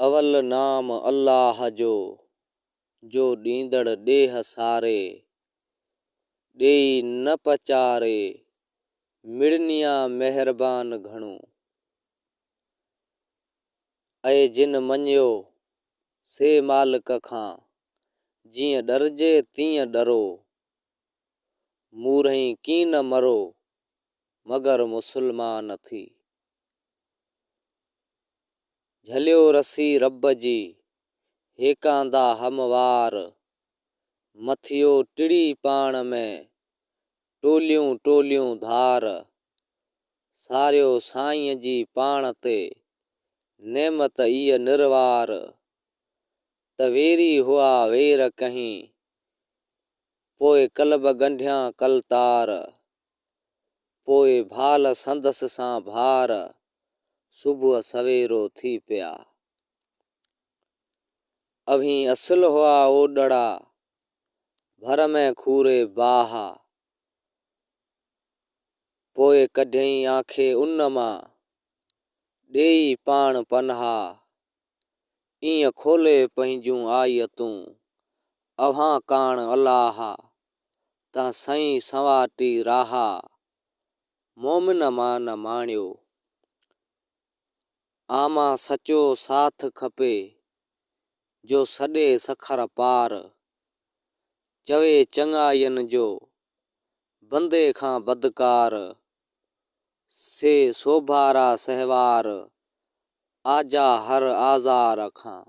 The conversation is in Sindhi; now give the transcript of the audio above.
اول نام الله جو، جو ڏيندڙ ڏيھ ساري، ڏيئي نه پچاري، مڙنيا مهربان گهڻو. اي جن مڃيو، سي مالڪ کان، جيئن ڏرجي تيئن ڏرو. مورهين ڪين مرو مگر مسلمان ٿي. جهليو رسي رب جي هيڪاندا هموار مٿيو ٽڙي پاڻ ۾ ٽوليون ٽوليون ڌار ساريو سائين جي پاڻ تي نعمت ايء نروار ته ويري هئا وير ڪهين، پوء قلب ڳنڍيان قلتار، پوء ڀال سندس سان ڀار، صبح سويرو ٿي پيا. اوهين اصل هئا اوڏڙا، ڀر ۾ کوري باهه، پوء ڪڍيئين آنکي ان مان، ڏيئي پاڻ پنهاء. ايئن کولي پنهنجون آيتون اوهان ڪاڻ الاهه تان سئين سنوارٽي راها مومن مان نه ماڻيو آمان سچو ساٿ کپي جو سڏي سکر پار چوي چڱاين جو بندي کان بدڪار، سي سوڀارا سهوار، آجا هر آزار کان.